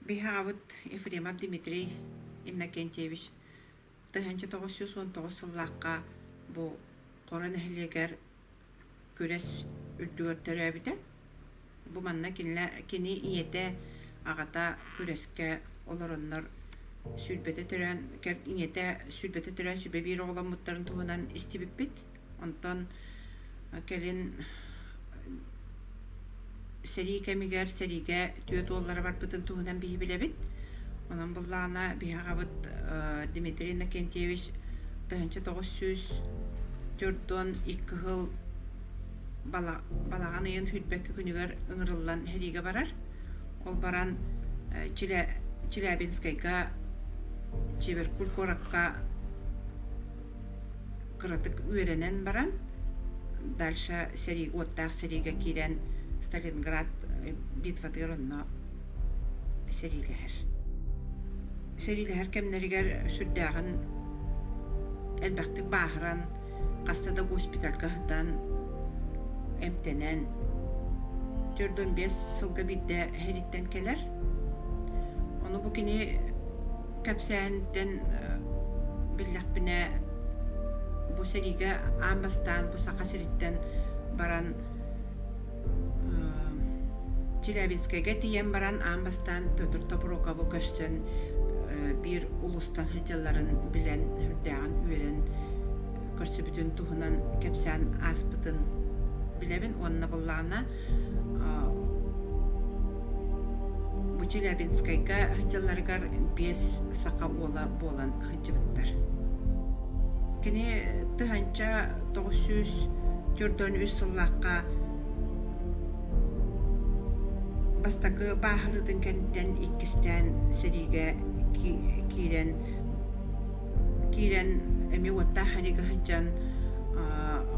Быһаабыт Ефремов Дмитрий Иннокентьевич тыһыынча тоҕус сүүс уон тоҕус сыллаахха бу Хоро нэһилиэгэр күрэс үрдүгэр төрөөбүтэ. Бу манна кинилэр, кини ийэтэ, аҕата күрэскэ олороннор сүүрбэтэ төрөөн, ийэтэ сүүрбэтэ төрөөн сүбэ биир оҕоломмуттарын туһунан истибиппит. Онтон кэлин Сэрии кэмигэр сэриигэ түөрт уоллара барбытын туһунан биһи билэбит. Онон буллаҕына биһи аҕабыт Дмитрий Иннокентьевич тыһыынча тоҕус сүүс төрт уон икки сыл балаҕан ыйын хүрбэкки күнүгэр ыҥырыллан сэриигэ барар. Ол баран Челябинскайга, Чиверкуль куоракка кыратык үөрэнэн баран дальше сэрии уоттаах сэриигэ киирэн Сталинград битватыгар онно сэриилэһэр сэриилэһэр кэмнэригэр сүрдээҕин элбэхтик бааһыран хаста да госпитальга сытан эмтэнэн төрт он бес сылга биирдэ хэриттэн кэлэр ону бу кини кэпсээһинтэн биллэхпинэ бу сэриигэ аан бастаан бу саха сириттэн баран челябинскайга тиийэн баран аан бастаан петр топорокову көрсөн биир улустан сылдьалларын билэн сүрдээҕин үөрэн көрсүбүтүн туһунан кэпсээн ааспытын билэбин уонна буллаҕына Бу Челябинскайга дьылларыгар биэс саха уола буолан сылдьыбыттар. Кини тыһыынча тоҕус сүүс төрдөн үс сыллаахха бастакы бааһырыытын кэнниттэн иккистээн сэриигэ киирэн киирэн эмиэ уоттаах харига сылдьан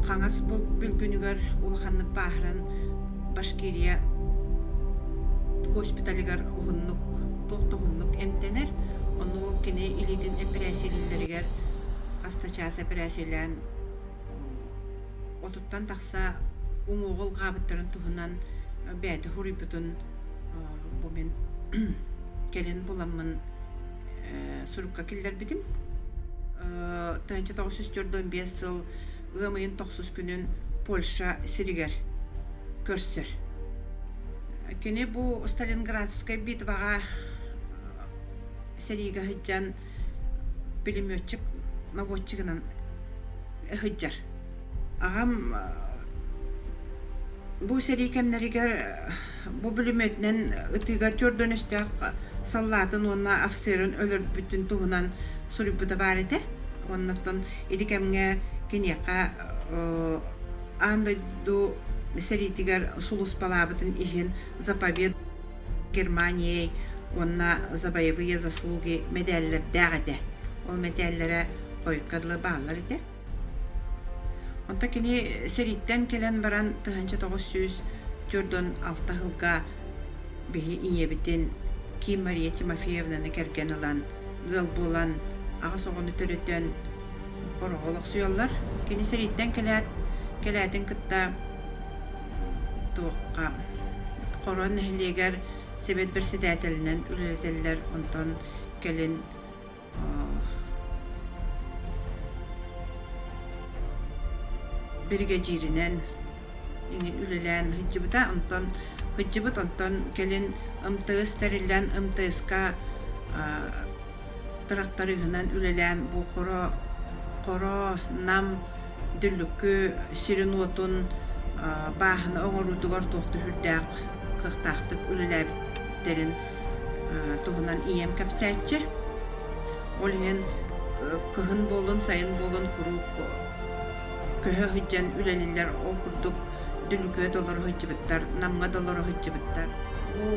хаҥас бүлгүнүгэр улаханнык бааһыран башкирия госпиталыгар уһуннук туох да уһуннук эмтэнэр ону ол кини илиитин эпэрээссийэлииллэригэр астачаас эпэрээссийэлээн отуттан тахса уҥуоҕул гаабыттарын туһунан бэйэтэ хоруйбутун бу мин кэлин буламмын сурукка киллэрбитим. Тыһынча тоғыз жүз төрдөн биэс сыл ыам ыйын тохсус күнүн Польша сиригэр көрсөр. Кини бу Сталинградскай битваҕа сэриигэ сылдьан пулеметчик наводчигынан сылдьар. Ағам бу сэрии кэмнэригэр Бу бүлүмүөтүнэн ытыыга түөрт дөнүстээх саллаатын уонна офицерын өлөрбүтүн туһунан суруйбута баар этэ. Оннуттан ити кэмҥэ киниэхэ аан дойду сэриитигэр сулуспалаабытын иһин заповед Германии уонна за боевые заслуги мэдээллэрдээх этэ. Ол мэтээллэрэ хойукка дылы бааллар этэ. Онто кини сэрииттэн кэлэн баран тыһыынча тоҕус сүүс түөрт уон алта сылга биһи ийэбитин Ким Мария Тимофеевнаны кэргэн ылан, ыал буолан, аҕыс оҕону төрөтөн хороҕо олохсуйаллар. Кини сэрииттэн кэлээт, кэлээтин кытта туохха Хоруон нэһилиэгэр сэбиэт бэрэссэдээтэлинэн үлэлэтэллэр, онтон кэлин биригэдьииринэн үлэлээн сылдьыбыта онтон сылдьыбыт онтон кэлин МТС тэриллэн МТС-ка тракториһынан үлэлээн бу хоро хоро нам дүллүкү сиринуотун бааһына оҥоруутугар туох да сүрдээх кыахтаахтык үлэлээбиттэрин туһунан ийэм кэпсээччи. Ол иһин кыһын буолун, сайын буолун куруук көһө сылдьан үлэлиллэр ол курдук дүлүкүө толору сылдьыбыттар, намҥа толору сылдьыбыттар. Бу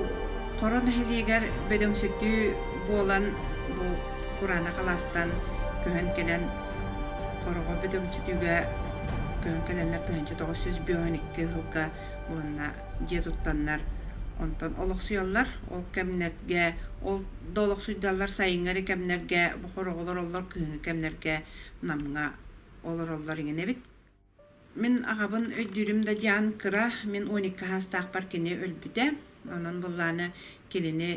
Хоро нэһилиэгэр бөдөҥсүтүү буолан бу кураана халаастан көһөн кэлэн хороҕо бөдөҥсүтүүгэ көһөн кэлэннэр тыһыынча тоҕус сүүс бүөн икки сылга уонна дьиэ туттаннар онтон олохсуйаллар ол кэмнэргэ ол да олохсуйдаллар сайыҥҥы эрэ кэмнэргэ бохор оҕолор оллор кыһыҥҥы кэмнэргэ намҥа олороллор иҥинэбит мин аҕабын өйдүүрүм да дьаан кыра мин он икки саастаахпар кини өлбүтэ онон буоллааны кинини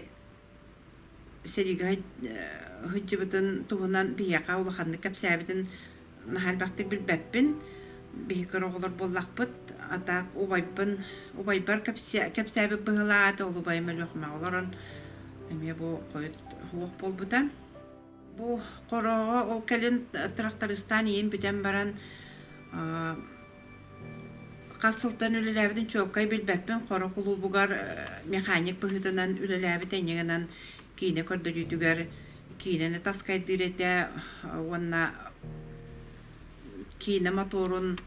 сэриигэ сылдьыбытын туһунан биһиэхэ улаханнык кэпсээбитин наһаа элбэхтик билбэппин. Биһиги кыра оҕолор буоллахпыт, а так убайбын, убайбар кэпсээ, кэпсээбит быһылаат, ол убайым Өлүөхүмэҕэ олорон эмиэ бу хойут суох буолбута. Бу хороҕо ол кэлин трактористаан ийэм бүтэн баран хас сылтан үлэлээбитин чуолкай билбэппин хоро кулуубугар механик быһыытынан үлэлээбит эньигынан киинэ көрдөрүүтүгэр киинэни таскайдыыр этэ уонна киинэ мотуорун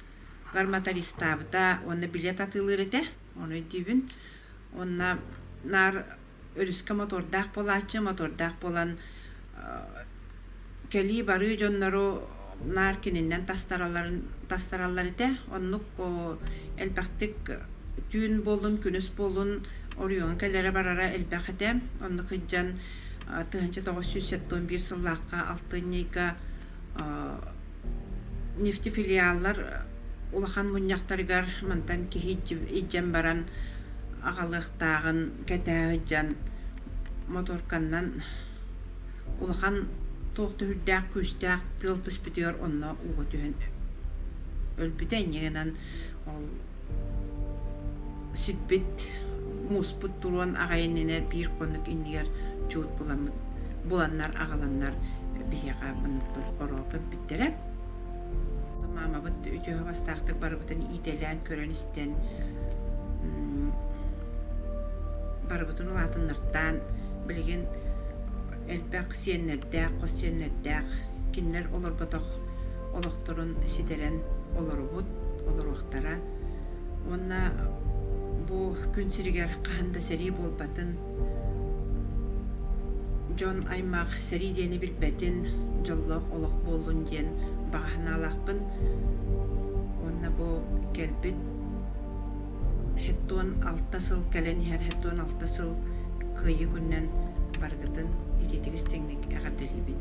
мотористаабыта уонна билет атыылыыр этэ ону өйдүүбүн уонна наар өрүскэ мотордаах буолааччы мотордаах буолан кэлии-барыы дьоннору наар кининнэн тастараларын тастараллар этэ оннук элбэхтик түүн буоллун күнүс буоллун оройуон кэлэрэ барара элбэх этэ оннук ыйдьан тыһыынча тоҕус сүүс сэттэ он биир сыллаахха алтын ньыйга нефтефилиаллар улахан мунньахтарыгар мантан киһи илдьэн баран аҕалыахтааҕын кэтээ сылдьан моторканнан улахан туох да үрдээх күүстээх тыал түспүтүгэр онно ууга түһэн өлбүтэ инньэ гынан ол сиппит мууспут туруон аҕай иннинэ биир хонук иннигэр чуут буламмыт буланнар аҕаланнар биһиэхэ муннуктан хороо көмпүттэрэ маамабыт үтүө бастаахтык барыбытын иитэлээн көрөн истэн барыбытын улаатыннартаан билигин элбэх сиэннэрдээх хос сиэннэрдээх кинилэр олорботох олохторун ситэрэн олорубут, олоруохтара. Уонна бу күн сиригэр хаһан да сэрии буолбатын, дьон аймах сэрии диэни билбэтин, дьоллоох олох буоллун диэн баҕаһынаалаахпын. Уонна бу кэлбит һэттуон алта сыл кэлэн иһэр һэттуон алта сыл кыайыы күнүнэн барыгытын итиитик истиҥник эҕэрдэлиибин.